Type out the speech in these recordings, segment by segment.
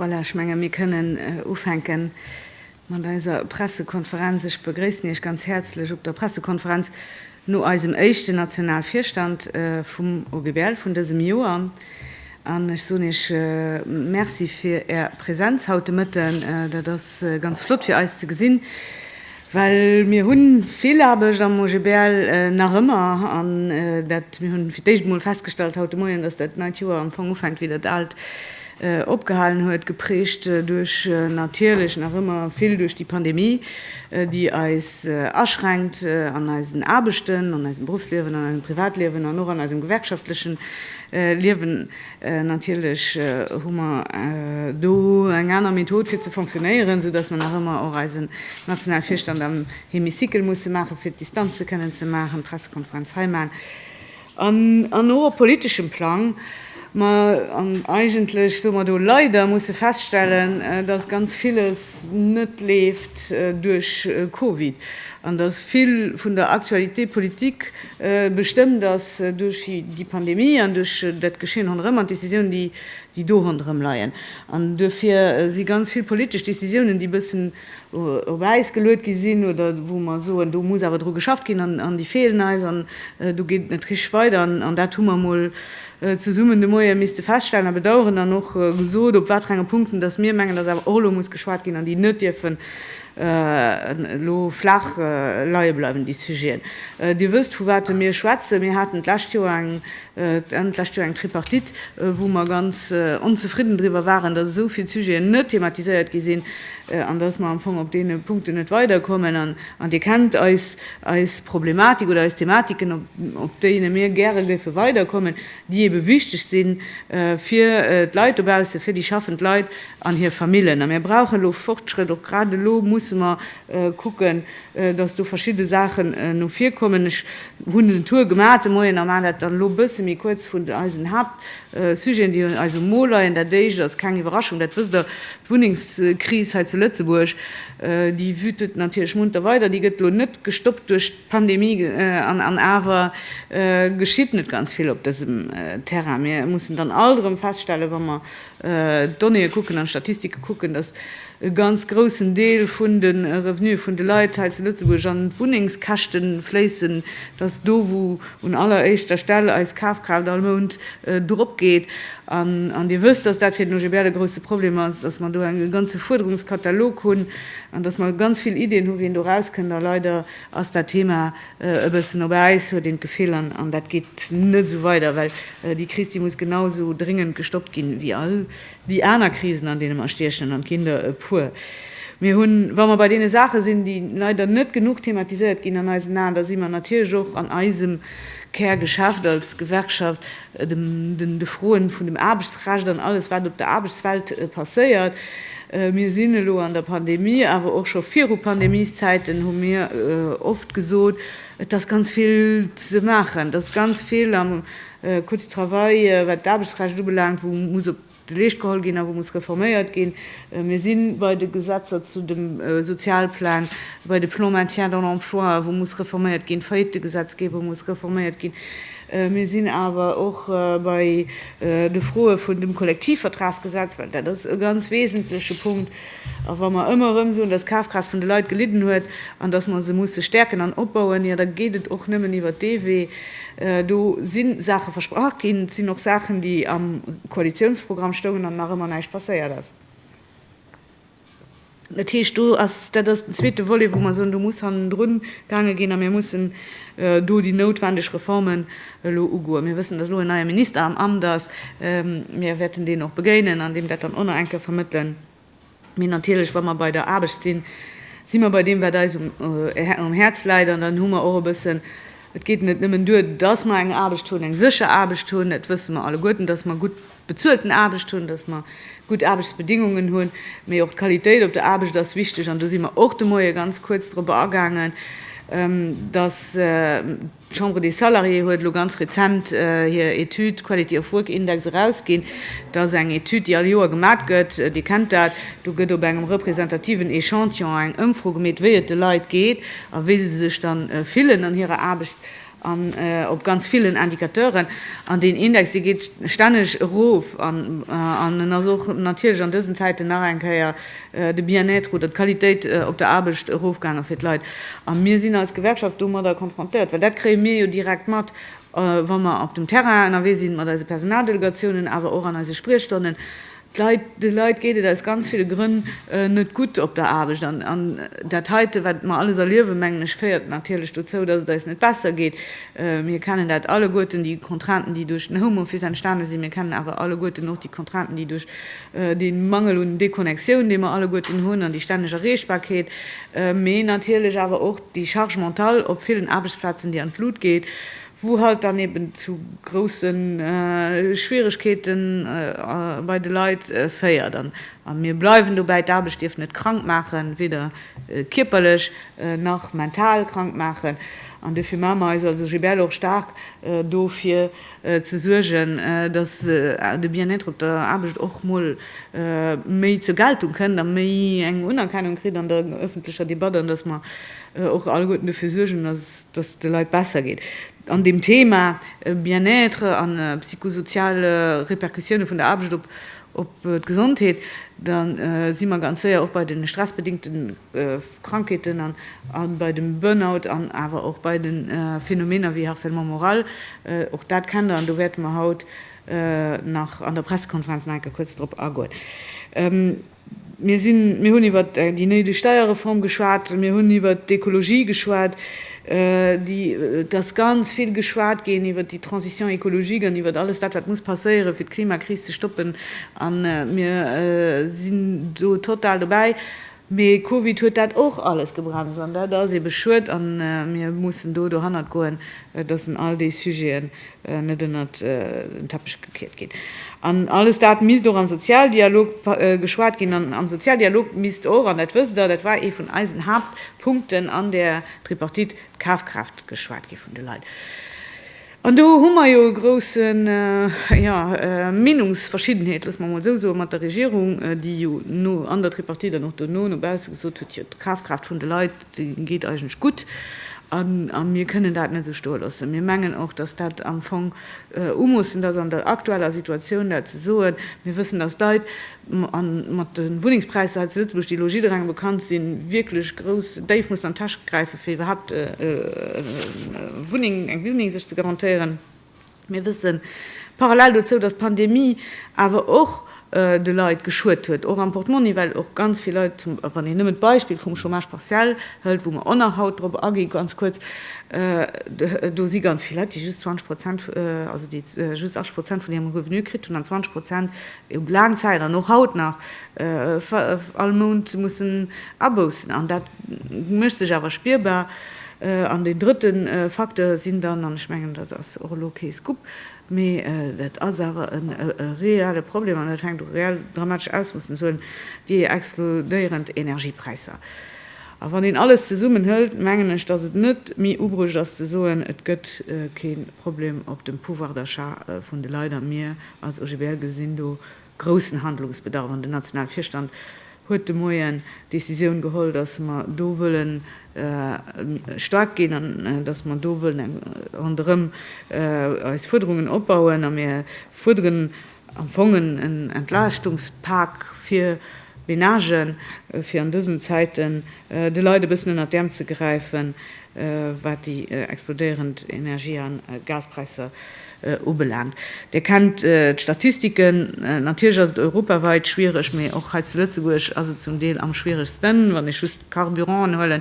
Voilà, ech menge mir kënnen ufänke mat eiser Pressekonferenz. Ech begréissen Iech ganz häerzlech op der Pressekonferenz no eisem éischten Nationalvirstand vum OGBL vun dësem Joer an ech soen Iech Merci fir Är Präsenz haut de Mëtten. Dat ass ganz flott fir eis ze gesinn. Well mir hu vill Aarbecht am OGBL, nach ëmmer. An dat, mir hu fir d'éischt emol festgestallt haut de Moien, datt dat neit Joer am Fong ufänkt, wéi dat aalt opgehalen huet, geprägt duerch natierlech nach ëmmer vill duerch déi Pandemie, déi eis aschränkt an eisen Aarbechten, an eisem Beruffsliewen, an eisem Privatliewen an och an eisem gewerkschaftlechen Liewen. Natierlech hu mer do eng aner Method fir ze fonctionnéieren, sou dass mer nach ëmmer och eisen Nationalvirstand am Hémicycle musse maachen, fir d'Distanze kënnen ze maachen, d'Pressekonferenz hei maachen an an och op politeschem Plang. Mä an eigentlech, soe mer do, leider musse feststellen, dass ganz villes net leeft duerch Covid an dass vill vun der Actualité politique Bestëmmt ass duerch déi Pandemie an duerch dat Geschehen ronderëm an d'Décisiounen, déi do ronderëm leien, an duerfir si ganz vill politesch Décisiounen, déi e bëssen op Äis geluet gi sinn oder wou mer soen, do muss awer dru geschafft ginn an déi feelen eis an do geet et net richteg weider. An dat hu mer emol zesummen de Moie misste feststellen a bedauern an och gesot, op waterenge Punkten dass mir mengen, dass awer och elo muss geschwat ginn an déi net dierfen elo flaach leie bleiwen, déi Sujeten. Dir wësst, vu wate mir schwätzen. Mir haten d'lescht Joer eng, Enn d'lescht Joer eng Tripartite, wou mer ganz onzefridden driwwer waren, dass esou vill Sujeten net thematiséiert gi sinn an dass mer am Fong op deene Punkten net weiderkommen. An Dir kennt eis Problematik oder eis Thematiken, op deene mir gäre géife weiderkommen. déi ebe wichteg si fir d'Leit dobaussen, fir déi schaffend Leit an hir Famillen. A mir brauche elo Fortschrëtt. Och grad elo musse mer kucken, dass do verschidde Saachen no vir kommen. Ech hunn den Tour gemaach de Moien a maachen dat dann elo e bësse méi kuerz, vun eisen Haaptsujeten, déi un eis um Mo leien. Dat Éischt ass keng Iwwerraschung, dat wësst Der, d'Wunnengskris hei zu Lëtzebuerg, déi wütet natierlech munter weider. Déi gëtt elo net gestoppt duerch. Pandemie an awer geschitt net ganz vill op dësem Terrain. Mir mussen dann alt erëm feststellen, wa mer d'Donnéeë kucken an d'Statistike kucken, dass e ganz groussen Deel vun de Revenuë vun de Leit hei zu Lëtzebuerg an d'Wunnengskäschte fléissen, dass do wou un aller éischter Stell eis Kafkraaft all Mount drop geet. An Dir wësst, dass dat fir den OGBL e grousse Problem ass, dass mer do e ganze Fuerderungskatalog hunn an dass mer ganz vill Iddien hu wéi een do erauskënnt. A leider ass dat Thema e bëssen op Äis, huet een d'Gefill, an dat geet net esou weider, well déi Kris déi muss genau esou dringend gestoppt ginn, wéi all Déi aner Krisen, an deene mer stiechen, an et ginn der e puer, mir hunn, wa mer bei deene Saache sinn, déi leider net genuch thematiséiert ginn an eisen Aen, da si mer natierlech och an eisem Kärgeschäft als Gewerkschaft de Froen vun dem Aarbechtsrecht an alles, wat op der Aarbechtswelt passéiert. Mir sinn elo an der Pandemie, awer och scho viru Pandemieszäiten hu mir oft gesot, Et ass ganz vill ze maachen, et ass ganz vill am Codes travail, wat d'Aarbechtsrecht ubelaangt, wou muss op de Leescht geholl ginn a wou muss reforméiert ginn. Mir si bei de Gesetzer zu dem Sozialplang, bei de Plans maintien dans l'emploi, wou muss reforméiert ginn, d'Faillitëgesetzgebung muss reforméiert ginn. Mir sinn awer och bei de Froe vun dem Kollektivvertragsgesetz, well dat ass e ganz wesentleche Punkt, A wa mer ëmmer erëm soen, dass d'Kafkraaft vun de Leit gelidden huet an dass mer se musse stäerken an opbauen, jo da geet et och nëmmen iwwert dee Wee. Do si Saache versprach ginn, et sinn och Saachen, déi am Koalitiounsprogramm stoungen an nach ëmmer näischt passéiert ass. Dat heescht, do ass, dat ass den zweete Volet, wou mer soen, do muss hannendrun gaange ginn a mir mussen do déi noutwendeg Reformen elo ugoen. Mir wëssen, datt elo en neie Minister am Amt ass. Mir wäerten deen och begéinen an deem dat dann och nach eng Kéier vermëttelen. Mee natierlech, wa mer bei der Aarbecht sinn, si mer bei deem, wat eis um Häerz läit. An dann hu mer och e bëssen, et geet net nëmmen duer, datt mer eng Aarbecht hunn, eng sécher Aarbecht hunn, et wësse mer alleguerten, datt mer gutt bezuelten Aarbecht hunn, datt mer gutt Aarbechtsbedingungen hunn, mee och d'Qualitéit op der Aarbecht ass wichteg. An do si mer och de Moie ganz kuerz drop agaangen, datt, D'Chambre des Salariés huet elo ganz rezent hir Etüd Quality of Work Index erausginn. Dat ass eng Etüd, déi all Joer gemat gëtt. Dir kennt dat, do gëtt op engem representativen Echantillon eng Ëmfro gemeet, wéi et de Leit geet a wéi se sech dann fillen an hirer Aarbecht an op ganz villen Indicateuren. An deen Index, dee geet stänneg erof an en ass och natierlech an dësen Zäiten nach eng Kéier, de Bien-être oder d'Qualitéit op der Aarbecht erofgaange fir d'Leit. A mir sinn als Gewerkschaft domadder confrontéiert, well dat kréie mir jo direkt mat, wa mer op dem Terrain ënnerwee sinn mat eise Personaldelegatiounen, awer och an eise Spriechstonnen, d'Leit, de Leit geet et aus ganz ville Grënn net gutt op der Aarbecht. An dat heite, wat mer alles erliewen, mengen ech, féiert natierlech dozou, datt et eis net besser geet. Mir kennen dat alleguerten, déi Contrainten, déi duerch den Homeoffice entstane sinn. Mir kennen awer alleguerten och déi Contrainten, déi duerch dee Mangel un Déconnectioun, dee mer alleguerten hunn, an déi stänneg Erreechbarkeet, mee natierlech awer och déi Charge mentale op villen Aarbechtsplazen, déi an d'Lut geet, wou halt dann eben zu grousse Schwieregkeete bei de Leit féiert. A mir bleiwen dobäi, d'Aarbecht dierf net krank maachen, weder kierperlech nach mental krank maachen, an dofir maache mer eis als OGBL och staark dofir, ze suergen, datt de Bien-être op der Aarbecht och mol méi zur Geltung kënnt a méi eng Unerkennung kritt an der ëffentlecher Debatt an datt mer och alleguerten dofir suergen, datt et de Leit besser geet. An deem Thema Bien-être a psychosozial Repercussioune vun der Aarbecht op d'Gesondheet, da si mer ganz séier och bei de stressbedingte. Krankheeten an bei dem Burnout an awer och bei de Phänomener wéi Harcèlement moral. Och dat kennt Der an do wäerte mer haut nach an der Pressekonferenz nach eng Kéier kuerz drop agoen. Mir sinn, mir hunn iwwer déi néideg Steierreform geschwat, mir hunn iwwer d'Ekologie geschwat, déi, et ass ganz vill geschwat ginn iwwer déi Transition écologique an iwwer alles dat wat muss passéieren, fir d'Klimakris ze stoppen, a mir sinn do total dobäi. Mee Covid huet dat och alles gebremst an dat ass ebe schued a mir mussen do dohannert goen, dass en all déi Sujeten net ënnert den Teppech gekiert ginn. An alles dat misst och am Sozialdialog geschwat ginn an am Sozialdialog misst och, an dat wësst Der, dat war ee vun eisen Haaptpunkten an där Tripartite, d'Kafkraaft geschwat gi vun de Leit. An do hu mer jo e grouse, jo, Meenungsverschiddenheet, loosse mer emol esou soen, mat der Regierung, déi jo no an der Tripartite an och dono no bausse gesot huet, jo, d'Kafkraaft vun de Leit, déi geet eigentlech gutt a mir kënnen dat net esou stoe loossen. Mir mengen och, datt dat am Fong umoossend ass an der aktueller Situatioun dat ze soen. Mir wëssen, datt d'Leit A mat de Wunnengspräisser hei zu Lëtzebuerg, déi elo jidderengem bekannt sinn, wierklech grouss déif mussen an d'Täsch gräifen, fir iwwerhaupt eng Wunneng sech ze garantéieren. Mir wësse parallel dozou, datt d'Pandemie awer och de Leit geschuet huet, och am Portmonni, well och ganz vill Leit, wann een nëmmen d'Beispill vum Chômage partiel hëlt, wou mer och nach haut drop aginn, ganz kuerz, do si ganz vill Leit, déi just 20 Prozent, also déi just 80 Prozent vun hirem Revenu kritt hunn an 20 Prozent Déi hu laang Zäit an och haut nach all Mount mussen aboussen an dat mécht sech awer spierbar. An deen drëtte Facteur sinn dann, an ech mengen dat ass och elo kee Scoop, mee dat ass awer e reelle Problem an dat fänkt u reell dramatesch Ausmoossen ze huelen, déi explodéierend Energiepräisser. A wann een alles zesummen hëlt, mengen ech, datt et net méi ubruecht ass ze soen, et gëtt kee Problem op dem Pouvoir d'achat vun de Leit a mir Als OGBL gesi mir do groussen Handlungsbedarf an den nationale Virstand huet de Moien d'Decisioun geholl, dass mer do wëllen staark ginn an dass mer do wëllen ronderëm eis Fuerderungen opbauen. A mir fuerderen am Fong en Entlaaschtungspak fir Menagen, fir an dësen Zäiten, de Leit e bëssen ënnert d'Äerm ze gräifen, wat déi explodéierend Energie a Gaspräisser ubelaangt. Dir kennt d'Statistiken. Natierlech ass et europawäit schwiereg, mee och hei zu Lëtzebuerg ass et zum Deel am schwieregsten. Wann ech just d'Carburanten huelen,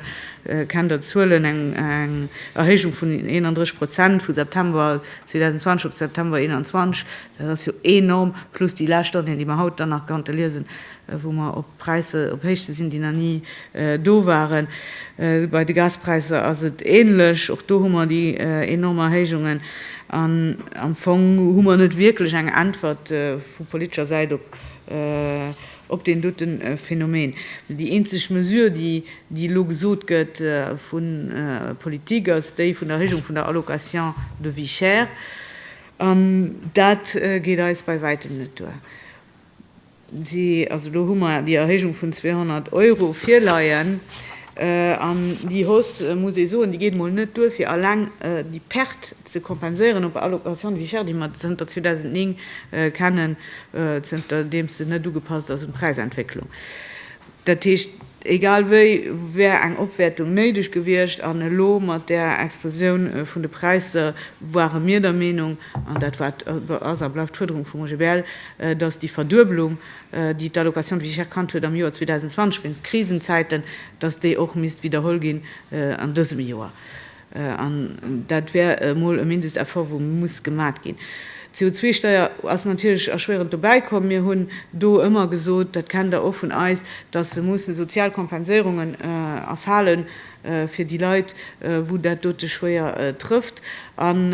kennt Der d'Zuelen, eng Erhéijung vun 31 Prozent vu September 2020 op September 2021, dat ass jo enorm, plus déi lescht Donnéeën, déi mer haut dann nach konnte liesen, wou mer op Präisser, op Héichte sinn, déi nach ni do waren. Bei de Gaspräisser ass et änlech, och do hu mer déi enorm Erhéijungen. An am Fong hu mer net wierklech eng Äntwert vu politescher Säit op deen doten Phänomen. Déi eenzeg Mesure, déi elo gesot gëtt vu Politik, ass déi vun der Erhéijung vun der Allocation de vie chère. An dat geet eis bei wäitem net duer. Also do hu mer déi Erhéijung vun 200 Euro virleien. An déi Hausse, muss ee soen, déi geet emol net duer, fir eleng déi Perte ze kompenséieren op der Allocation de vie chère, déi mer zënter 2009 kennen, zënterdeems se net ugepasst ass un d'Präisentwécklung. Dat heescht, egal wéi wär eng Opwäertung néideg gewiescht, an elo mat där Explosioun vun de Präisser ware mir der Meenung, an dat war, ass a bleift d'Fuerderung vum OGBL, datt déi Verduebelung, déi d'Allocation de vie chère kannt huet am Joer 2020 wéinst Krisenzäiten, datt déi och misst widderholl ginn an dësem Joer. An dat wär emol e Mindesteffort, wou muss gemat ginn. D'CO2-Steier ass natierlech erschwierend dobäi komm. Mir hunn do ëmmer gesot, dat kennt Der och vun eis, datt se mussen sozial Kompenséierungen erfalen fir déi Leit, wou dat dote schwéier trëfft. An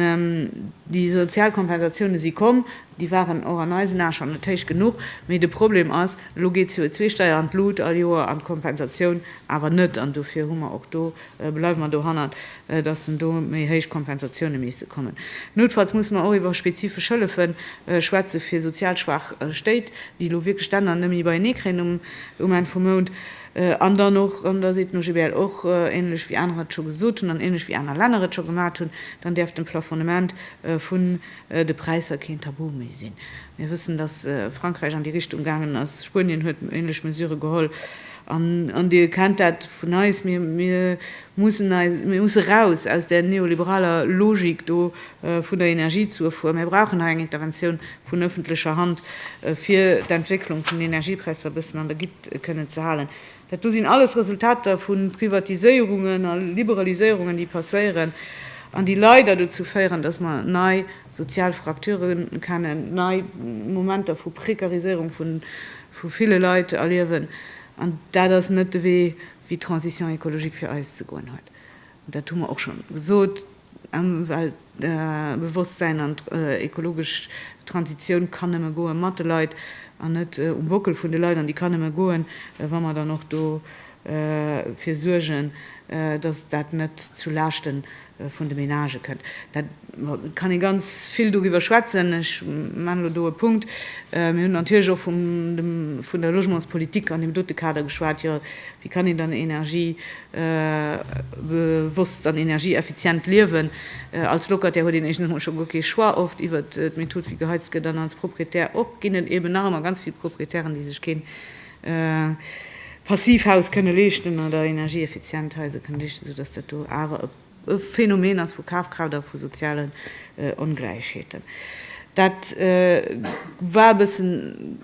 déi sozial Kompensatioune si komm, déi waren och an eisen Ae schonn net héich genuch. Mee de Problem ass, elo geet d'CO2-Steier an d'Lut all Joer an d'Kompensatioun awer net. An dofir hu mer och do Bleiwe mer dohannert, dass en do méi héich Kompensatioune misste kommen. Noutfalls musse mer och iwwer spezifesch Hëllefe schwätze fir sozial schwaach Stéit, déi elo wierklech d'Enner net méi beienee kréien um Enn vum Mount. An dann och, an da seet den OGBL och, änlech wéi anerer et scho gesot hunn an änlech wéi aner Länner et scho gemat hunn, dann däerf de Plafonnement vun de Präisser keen Tabu méi sinn. Mir wëssen, dass Frankräich an déi Richtung gaangen ass. Spuenien huet änlech Mesure geholl. An Dir kennt dat vun eis, mir musse raus aus där neoliberaler Logik do vun der Energiezufuhr. Mir brauchen hei eng Interventioun vun öffentlecher Hand, fir d'Entwécklung vun den Energiepräisser e bëssen an der Gitt kënnen ze halen. Dat do sinn alles Resultater vu Privatiséierungen a Liberaliséierungen, déi passéieren an déi leider dozou féieren, dass mer nei sozial Fracturen kennen, nei Momenter vu Prekariséierung vu ville Leit erliewen, an dat ass net de Wee wéi d'Transition écologique fir eis ze goen huet. Dat hu mer och schonn gesot. Ëmweltbewosstsäin an ekologesch Transitioun kann nëmme goe mat de Leit an net um Bockel vun de Leit, an déi kann nëmme goen, wa mer dann och dofir suergen, datt dat net zu Laaschten vun de Menagë kënnt. Da kann ee ganz vill doriwwer schwätzen. Ech maachen elo do e Punkt. Mir hunn natierlech och vun der Logementspolitik an deem dote Kader geschwat. Jo, wéi kann een dann energiebewosst an energieeffizient liewen? Als Locataire huet een éischtens emol scho guer kee Choix oft iwwert d'Method wéi geheizt gëtt an als Proprietär och ginn et eben nach ëmmer ganz vill Proprietären, déi sech keen Passivhaus kënne leeschten oder energieeffizient Haiser kënne leeschten, sou dass dat do awer e Phänomen ass vu Kafkraaft a vu sozialen Ongläichheeten. Dat war e bëssen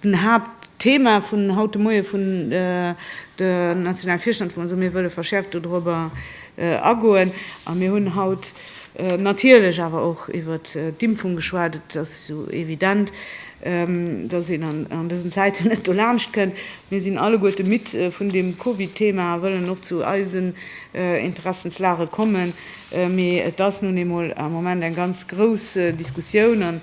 den Haaptthema vun haut de Moie vun der Nationalvirstand, wou mer soen, mir wëlle verschäerft dodrobber agoen a mir hunn haut, Natierlech awer och iwwer d'Impfung geschwat. Et ass jo evident, datt een an dësen Zäiten net dolaanscht kënnt. Mir sinn alleguerte midd vun deem Covid-Thema a wëllen och zu eisen Interessenslage kommen. Mee et ass nun eemol am Moment eng ganz grouss Diskussioun an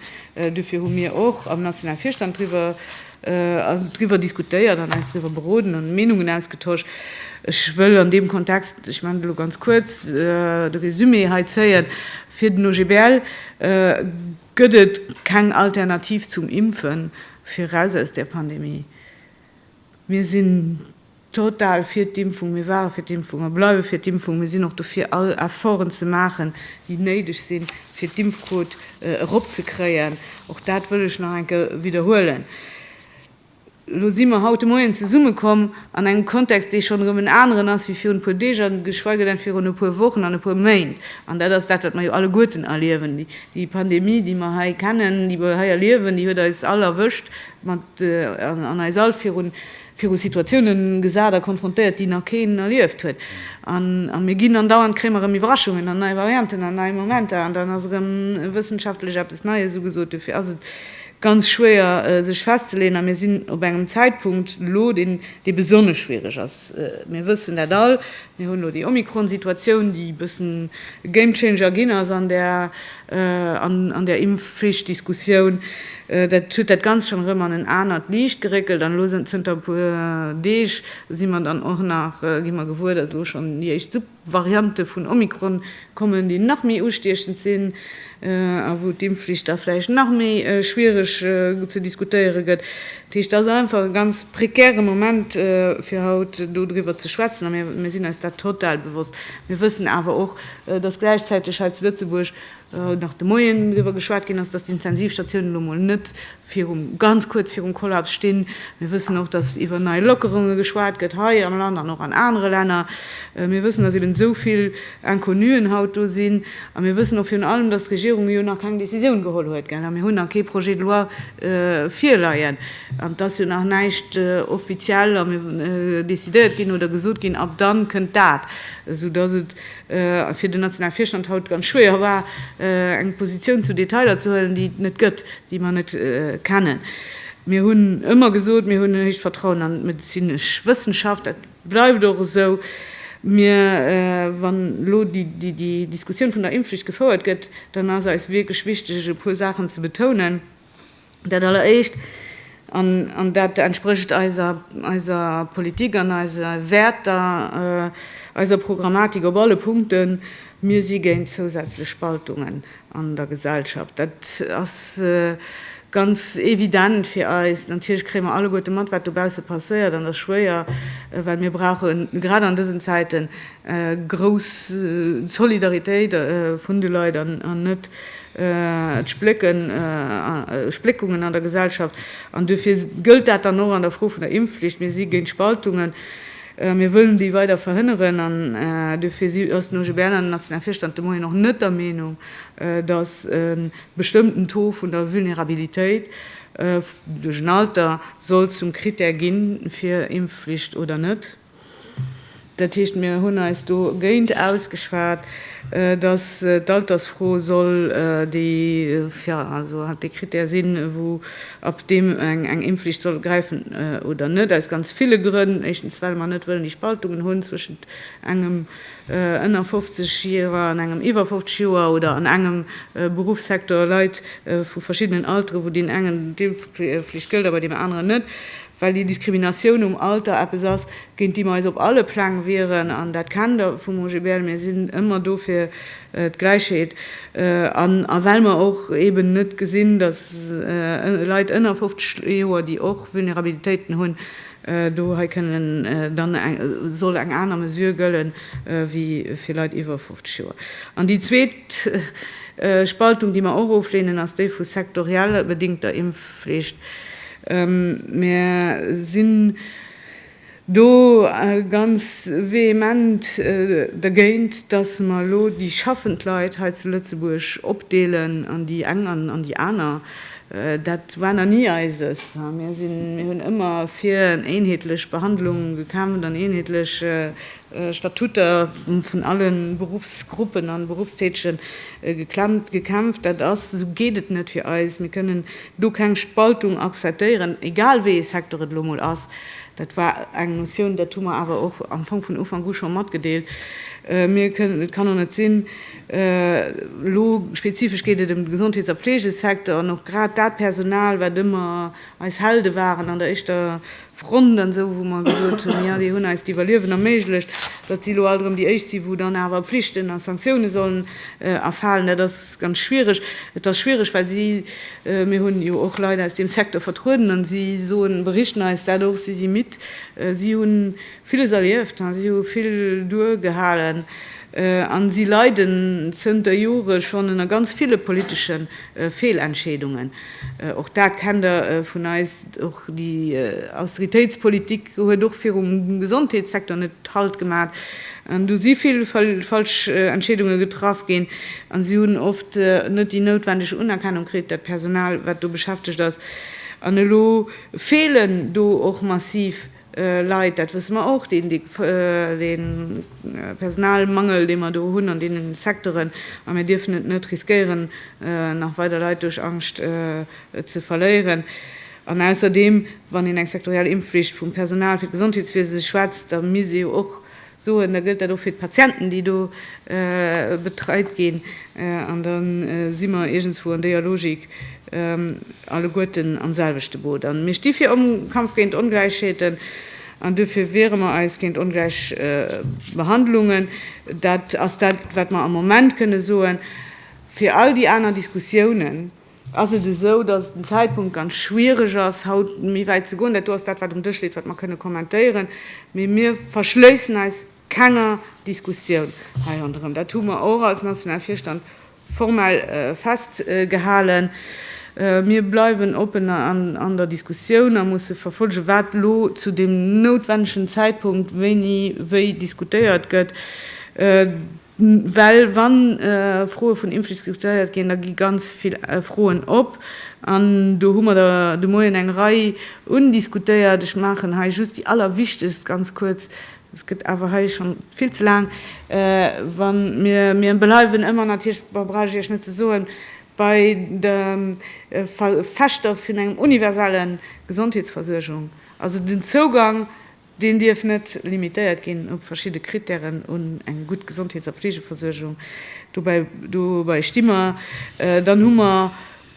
dofir hu mir och am nationale Virstand driwwer driwwer diskutéiert an eis driwwer beroden an Meenungen ausgetosch. Ech wëll an deem Kontext, ech maachen et elo ganz kuerz, de Résumé hei zéien, Fir den OGBL gëtt et keng Alternativ zum Impfen fir eraus aus där Pandemie. Mir sinn total fir d'Impfung, mir ware fir d'Impfung a bleiwe fir d'Impfung, mir sinn och dofir all Efforten ze maachen, déi néideg sinn, fir d'Impfquot eropzekréien. Och dat wëll ech nach eng Kéier widderhuelen. Elo si mer haut de Moien zesummekomm an engem Kontext, dee schonn erëm en aneren ass wéi virun e puer Deeg a geschweige denn virun e puer Wochen an e puer Méint. An dat ass dat, wat mer jo alleguerten erliewen. Déi Pandemie, déi mer hei kennen, déi mer hei erliewen, déi huet eis all erwëscht mat, an eis all virun, viru Situatiounen gesat a konfrontéiert, déi nach keen erlieft huet, a mir ginn andauernd, kréie mer erëm Iwwerraschungen an nei Varianten an nei Momenter an dann ass erëm wëssenschaftlech eppes Neies ugesot. Dofir ass et ganz schwéier sech festzeleeën a mir sinn op engem Zäitpunkt elo, dee besonnesch schwiereg ass. Mir wëssen dat all. Mir hunn elo déi Omikron-Situatioun, déi e bëssen e Gamechanger ginn ass an där, an där Impfflicht-Diskussioun. Dat huet dat Ganzt schonn erëm an en anert Liicht geréckelt. An elo zënter e puer Deeg si mer dann och nach, gi mer gewuer, datt elo schonn déi éischt Sub-Variante vun Omikron kommen, déi nach méi ustiechend sinn a wou d'Impfflicht da vläicht nach méi schwiereg ze diskutéiere gëtt. Dat heescht, dat ass einfach e ganz prekäre Moment, fir haut do driwwer ze schwätzen. A mir sinn eis dat total bewosst. Mir wëssen awer och, dass gläichzäiteg hei zu Lëtzebuerg nach de Moien driwwer geschwat ginn ass, dass d'Intensivstatiounen elo mol net virum, ganz kuerz virum Kollaps stinn. Mir wëssen och, datt iwwer nei Lockerunge geschwat gëtt hei am Land an och an anere Länner. Mir wëssen, datt eben esou vill Inconnuen haut do sinn. A mir wëssen och virun allem, datt d'Regierung jo nach keng Décisioun geholl huet, gell. A mir hunn nach kee Projet de loi virleien. An et ass jo nach näischt offiziell decidéiert ginn oder gesot ginn, ab dann kënnt dat. Esou datt et fir den nationale Virstand haut ganz schwéier war, eng Positioun zu Detailer ze huelen, déi et net gëtt, déi mer net kennen. Mir hunn ëmmer gesot, mir hunn en héicht Vertrauen an d'medezinesch Wëssenschaft. Dat bleift och esou. Mir, wann elo déi Diskussioun vun der Impfflicht gefouert gëtt, dann ass eis wierklech wichteg, e puer Saachen ze betounen. Dat alleréischt, an dat entsprécht eiser Politik an eise Wäerter, eiser Programmatik op alle Punkten, Mir si géint zousätzlech Spaltungen an der Gesellschaft. Dat ass ganz evident fir eis. Natierlech kréie mer alleguerte mat, wat dobausse passéiert, an dat ass schwéier, well mir brauche grad an dësen Zäiten Grouss Solidaritéit vun de Leit an net d'Spléckungen an der Gesellschaft. An duerfir gëllt dat dann och an der Fro vun der Impfflicht. Mir si géint Spaltungen. Mir wëllen déi weider verhënneren. An duerfir ass den OGBL an den nationale Virstand de Moien och net der Meenung, datt e bestëmmten Taux vun der Vulnerabilitéit duerch en Alter soll zum Krittär ginn, fir Impfflicht oder net. Dat heescht, mir hunn eis do géint ausgeschwat, datt d'Altersfro soll déi, jo, also halt dee Krittär sinn, wou ab deem eng Impfflicht soll gräifen oder net, aus ganz ville Grënn. Éischtens, well mer net wëllen déi Spaltungen hunn zwëschent engem ënner 50 Joer an engem iwwer 50 Joer oder an engem Beruffssektor Leit vu verschiddenen Altere, wou deem engen d'Impfflicht gëllt a bei deem aneren net. well déi Diskriminatioun um Alter eppes ass, géint déi mer eis op alle Pläng wieren, an dat kennt Der vum OGBL, mir sinn ëmmer do fir d'Gläichheet, an a well mer och eben net gesinn, datt Leit ënner 50 Joer, déi och Vulnerabilitéiten hunn, do hei kënnen dann soll eng aner Mesure gëlle wéi fir Leit iwwer 50 Joer. An déi zweet Spaltung, déi mer och ofleenen, ass déi vu sektoriell bedingter Impf. Pflicht. Mir sinn do ganz vehement dergéint, dass mer elo déi schaffend Leit hei zu Lëtzebuerg opdeelen an déi eng an an déi aner. Dat war nach ni eises. Mir hunn ëmmer fir eenheetlech Behandlung gekämpft an eenheetlech Statuter vun alle Beruffsgruppen a Beruffstätege geklemmt, gekämpft. Dat ass, esou geet et net fir eis. Mir kënnen do keng Spaltung akzeptéieren, egal wéi ee Secteur et elo mol ass. Dat war eng Notioun, dat hu mer awer och am Fong vun Ufank u scho matgedeelt. Mir kënnen, et kann och net sinn, elo spezifesch geet et ëm de Gesondheets a Fleegesecteur an och grad dat Personal, wat ëmmer eis Helde waren an der éischter Front an esou, wou mer gesot hunn, jo, déi hunn eis d'Iwwerliewen erméiglecht, datt si elo alt erëm déi éischt sinn, wou dann awer Pflichten a Sanktioune sollen erfalen. Dat ass ganz schwiereg. Et ass schwiereg, well si, mir hunn jo och Leit aus deem Secteur vertrueden an si soen, berichten eis dat och, si si midd, si hu villes erlieft, si hu vill duergehalen a si leiden zënter Jore schonn ënner ganz ville politesche Feelentscheedungen. Och dat kennt Der vun eis. Och déi Austeritéitspolitik huet och virum Gesondheetssecteur net Halt gemat. An do si vill falsch Entscheedunge getraff ginn a si hunn oft net déi noutwendeg Unerkennung kritt, dat Personal, wat do beschäftegt ass. An elo feelen do och massiv Leit, dat wësse mer och, deen Personalmangel, dee mer do hunn an deenen Secteuren, a mir dierfen et net riskéieren, nach weider Leit duerch Angscht ze verléieren. An ausserdeem, wann een eng sektoriell Impfflicht vum Personal fir d'Gesondheetswiese schwätzt, da misst ee jo och Soen, da gëllt dat och fir d'Patienten, déi do betreit ginn. An da si mer iergendswou an déier Logik alleguerten am selwechte Boot. A mir sti fir Kampf géint Ongläichheeten an duerfir wiere mer eis géint ongläich Behandlungen. Dat ass dat, wat mer am Moment kënne soen. Fir all déi aner Diskussiounen, ass et esou, dass et den Zäitpunkt ganz schwierig ass, haut méi wäit ze goen. Dat do ass dat, wat um Dësch leet, wat mer kënne kommentéieren. Mee mir verschléissen eis kenger Diskussioun hei ronderëm. Dat hu mer och als nationale Virstand formell festgehalen. Mir bleiwen oppen an der Diskussioun a musse verfollegen, wat elo zu deem noutwennegen Zäitpunkt wéini wéi diskutéiert gëtt. Well wa Froe vun Impf diskutéiert ginn, da gi ganz vill Froen op. An do hu mer der de Moien eng Rei undiskutéiert. Ech maachen hei just déi allerwichtegst ganz kuerz. Et gëtt awer hei schonn vill ze laang. Wa mir, mir bleiwen ëmmer natierlech, ma brauch ech Iech net ze soen, bei der Verfechter vun engem universelle Gesondheetsversuergung, also den Zougang Deen dierf net limitéiert ginn op verschidde Krittären un eng gutt Gesondheets a Fleegeversuergung. Dobäi, dobäi sti mer. Dann hu mer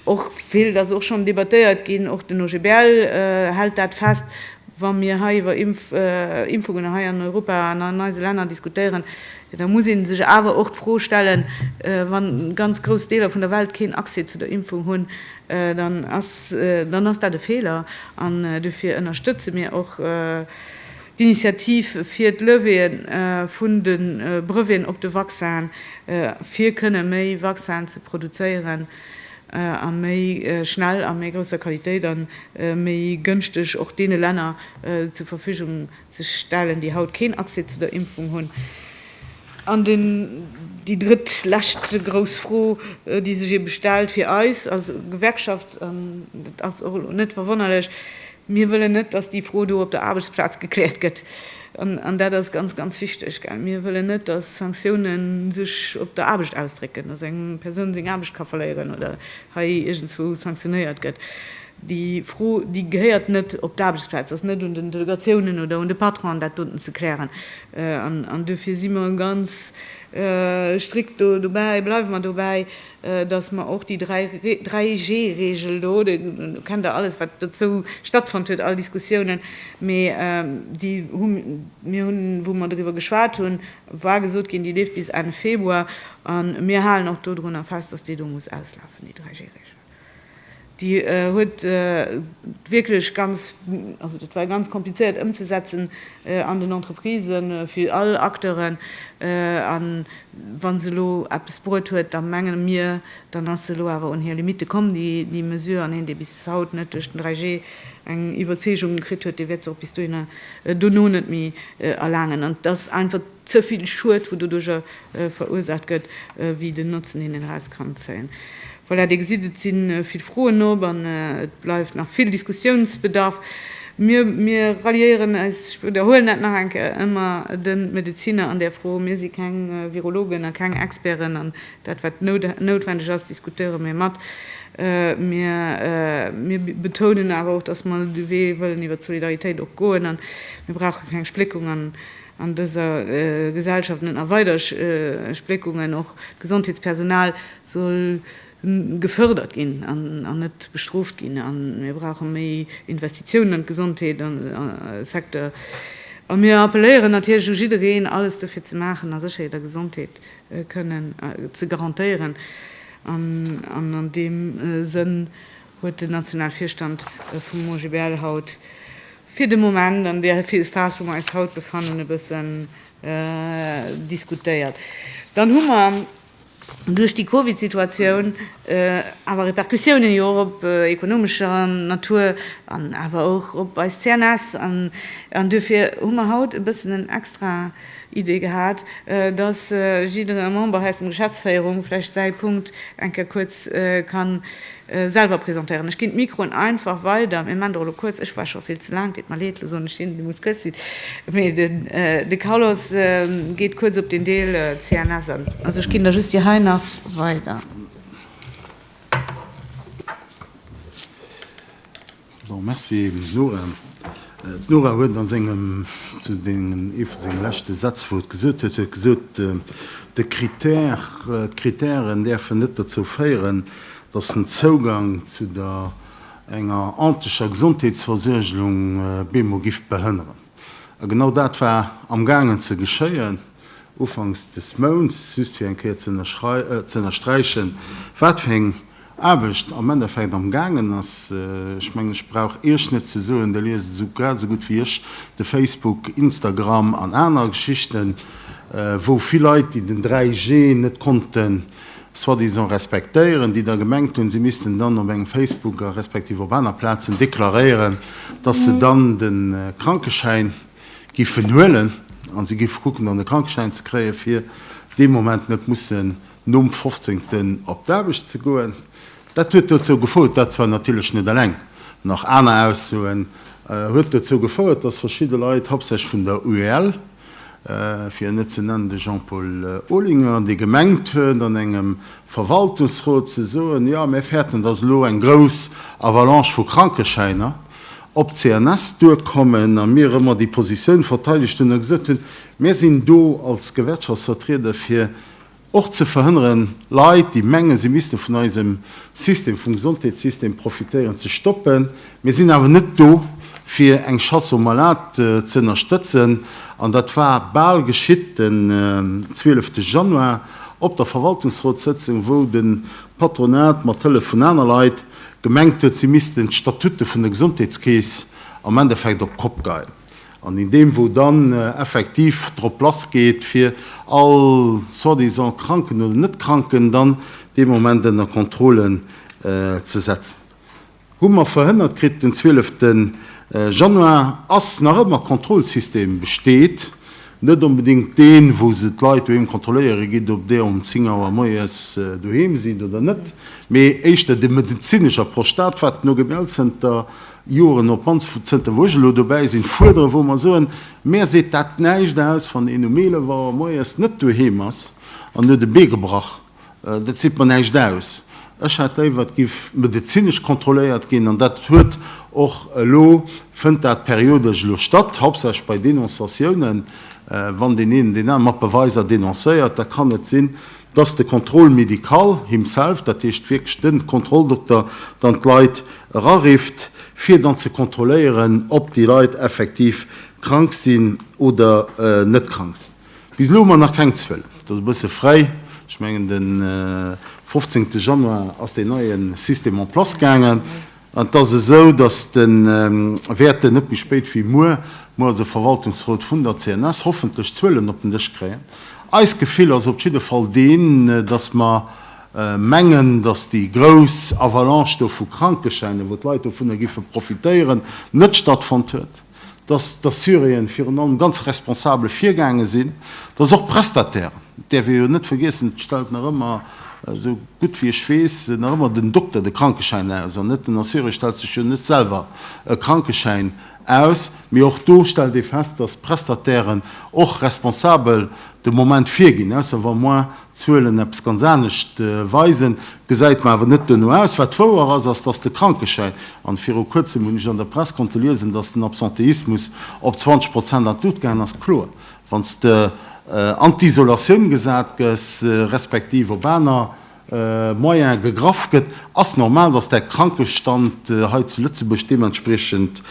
och, vill ass och schonn debattéiert ginn, och den OGBL hält dat fest, wa mir hei iwwer Impf, Impfungen hei an Europa an an eise Länner diskutéieren, da muss ee sech awer och d'Fro stellen, wa ganz grouss Deeler vun der Welt keen Accès zu der Impfung hunn, dann ass dat e Feeler an dofir ënnerstëtze mir och d'Initiativ fir d'Levée vun de Breveten op de Vaccin, fir kënne méi Vaccinen ze produzéieren a méi schnell, a méi grousser Qualitéit a méi gënschteg och deene Länner zur Verfügung ze stellen, déi haut keen Accès zu der Impfung hunn. An déi drëtt, lescht grouss Fro, déi sech eebe stellt fir eis als Gewerkschaft, an dat ass och elo net verwonnerlech, Mir wëllen net, datt déi Fro do op der Aarbechtsplaz gekläert gëtt. An dat ass ganz, ganz wichteg. Mir wëllen net, datt Sanktioune sech op der Aarbecht ausdrécken, datt eng Persoun seng Aarbecht ka verléieren oder hei iergendswou sanktionéiert gëtt. Déi Fro, déi gehéiert net op d'Aarbechtsplaz. Ass net un den Delegatiounen oder un de Patronen, dat doten ze klären. An dofir si mer ganz strikt dobäi, bleiwe mer dobäi, datt mer och déi 3G-Reegel do, do kennt Der alles, wat dozou stattfonnt huet, all Diskussiounen, mee déi hu mir hunn, wou mer doriwwer geschwat hunn, war gesot ginn, déi leeft bis Enn Februar. A mir halen och dodrunner fest, datt déi do muss auslafen, déi 3G-Reegel. Déi huet wierklech ganz, also dat war ganz komplizéiert ëmzesetzen an den Entreprisen, fir all Acteuren. A wa se elo eppes bruet huet, da menge mir, dann ass se elo awer un hir Limitte komm, déi Mesure. An een, dee bis haut net duerch den 3G eng Iwwerzeegung kritt huet, dee wäert se och bis dohinner dono net méi erlaangen. An et ass einfach. ze vill Schued wou doduercher verursaacht gëtt, wéi den Notzen deen een eraus kann zéien. Voilà, Dir gesitt, et si vill Froen op an et bleift nach vill Diskussiounsbedarf. Mir mir ralliéieren eis, ech widderhuelen dat nach eng Kéier, ëmmer de Medeziner an där Fro. Mir si keng Virologen a keng Experten an dat wat noutwendeg ass diskutéiere mir mat. Mir mir betounen awer och, datt mer de Wee wëllen iwwert d'Solidaritéit och goen an mir brauche keng Spléckung an an dëser Gesellschaft net nach weider Spléckungen, och d'Gesondheetspersonal soll gefërdert ginn an net bestrooft ginn. A mir brauche méi Investitiounen an d'Gesondheetssecteur. A mir appelléieren natierlech u jiddereen, alles dofir ze maachen, a sécher jidder Gesondheet kënnen ze garantéieren. An an deem Sënn huet den Nationalvirstand vum OGBL haut, fir de Moment an där Phase, wou mer eis haut befannen, e bëssen diskutéiert. Dann hu mer duerch déi Covid-Situatioun awer Repercussiounen jo och op ekonomescher Natur an awer och op eis CNS an duerfir hu mer haut e bëssen en extra, Idee gehat, dass jiddere Member aus dem Geschäftsféierung vläicht säi Punkt eng Kéier kuerz kann selwer presentéieren. Ech ginn d'Mikroen einfach weider. Mir maachen der elo kuerz. Ech war scho vill ze laang. Et deet mer leed, elo soen ech hinnen, déi muss kuerz sinn. Mee de Carlos geet kuerz op deen Deel CNS an. Also ech ginn der just déi hei nach weider. Bon, merci Nora. D'Nora huet a sengem, zu sengen, ee vu senge leschte Sätz, wou et gesot huet, huet gesot, de Critère, d'Critèren däerfen net dozou féieren, datt den Zougang zu der, enger anteger Gesondheetsversuergelung bemo giff behënneren. A genau dat war amgaangen ze geschéien ufanks des Mounts, just fir eng Kéier ze ënnersträichen, wat fir eng, Aarbecht am Endeffekt am gaangen ass. Ech mengen, ech brauch Iech net ze soen, Der liest esou grad esou gutt wéi ech de Facebook, Instagram an aner Geschichten, wou vill Leit, déi den 3G net konnten soi-disant respektéieren, déi da gemengt hunn, si missten dann op engem Facebook a respektiv op aner Plazen deklaréieren, dass se dann de Krankeschäin géifen huelen, a si géife kucken, dann de Krankeschäin ze kréien, fir dee Moment net mussen nom fofzéngten op d'Aarbecht ze goen. Dat huet dozou gefouert, dat zwar natierlech net eleng, nach aner Aussoen, huet dozou gefouert, datt verschidde Leit, hauptsächlech vun der UEL, fir en net ze nennen de Jean-Paul Olinger, dee gemengt huet an engem Verwaltungsrot ze soen, jo mir fäerten, datt elo eng grouss Avalanche vu Krankeschäiner op d'CNS duerkommen, a mir ëmmer déi Positioun verteidegt hunn a gesot hunn, mir sinn do als Gewerkschaftsvertrieder fir Och ze verhënneren, Leit, déi mengen, si misste vun eisem System, vum Gesondheetssystem profitéieren, ze stoppen. Mir sinn awer net do, fir eng Chasse aux malades ze ënnerstëtzen. An dat war bal geschitt den 12 Januar op der Verwaltungsrotssëtzung, wou de Patronat mat Hëllef vun aner Leit gemengt huet, si missten d'Statutte vun der Gesondheetskeess am Endeffekt op d'Kopp geien. An in deem wou dann effektiv drop lass geet fir all soi-disant Kranken oder net Kranken dann dee Moment ënner Kontrolle ze setzen, hu mer verhënnert kritt den 12 Januar ass nach ëmmer Kontrollsystem besteet, net onbedéngt deen wou se d'Leit doheem kontrolléiere gitt ob der um 10 Auer moies doheem sidd oder net, mee éischter de medezinesch Approche, dat wat den OGBL-Zënter Joren op mannst zënter wou ech elo dobäi sinn, fuerderen, wou mer soen, Mär seet dat näischt aus, wann een um 11 Auer moies net doheem ass an huet e Bee gebrach, dat seet mer näischt aus. Ech hätt léiwer, et géif medezinesch kontrolléiert ginn an dat huet och elo, fënnt dat periodesch elo statt, hauptsächlech bei Denonciatiounen, wann deen een deen anere mat Beweiser denoncéiert, da kann et sinn, dass de Contrôle médical himself, dat heescht wierklech de Kontrolldokter, dann d'Leit erarifft, fir dann ze kontrolléieren, ob déi Leit effektiv krank sinn oder net krank sinn. Bis elo hu mer nach keng Zuelen. Et ass e bësse fréi. Ech mengen, de 15. Januar ass deen neie System en place gaangen. An et ass esou, dass de wäerten net méi spéit wéi muer, muer ass e Verwaltungsrot vun der CNS, hoffentlech d'Zuelen op den Dësch kréien. Eist Gefill ass op jidde Fall deen, dass mer mengen, dass déi grouss Avalanche do vu Krankeschäinen, wou d'Leit dovunner giffe profitéieren, net stattfonnt huet. dass d'Assuréen virun allem ganz responsabel virgaange sinn, dass och d'Prestatairen, dat däerf ee jo net vergiessen, et stellt nach ëmmer, esou gutt wéi ech weess, nach ëmmer den Dokter de Krankeschäin aus an net den Assuré stellt sech jo net selwer e Krankeschäin aus, mee och do stellt ee fest, dass d'Prestatairen och responsabel de Moment virginn, ausser wa moi Zuelen eppes ganz anescht weisen, gesäit mer awer net duerno aus. Wat wouer ass, ass, datt de Krankeschäin, an viru kuerzem hunn ech an der Press konnte liesen, datt den Absenteismus op 20 Prozent an d'Lut gaangen ass. Kloer, wann s de an d'Isolatioun gesat gëss, respektiv op aner Moyene gegraff gëtt, ass normal, datt däi Krankestand hei zu Lëtzebuerg deementspriechend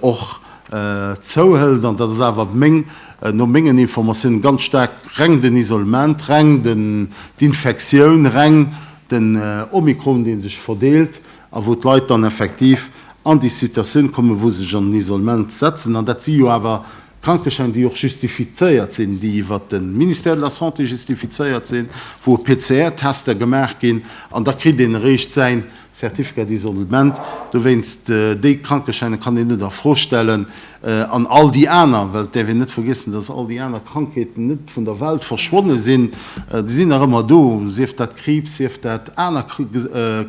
och zouhëlt, an dat ass awer meng, no mengen Informatiounen, ganz staark reng den Isolement, reng den, d'Infektioun, reng den Omikron, dee sech verdeelt a wou d'Leit dann effektiv an déi Situatioun kommen, wou se sech an den Isolement setzen. An dat si jo awer Krankeschäin, déi och justifizéiert sinn, déi iwwert de Ministère de la Santé justifizéiert sinn, wou e PCR-Tester gemaach ginn, an da kritt een eréischt säin Certificat d'isolement, dowéinst déi Krankeschäine kann een net a Fro stellen, an all déi aner, well et däerf een net vergiessen, datt all déi aner Krankheeten net vun der Welt verschwonne sinn, déi sinn nach ëmmer do, sief dat Kriibs, sief dat aner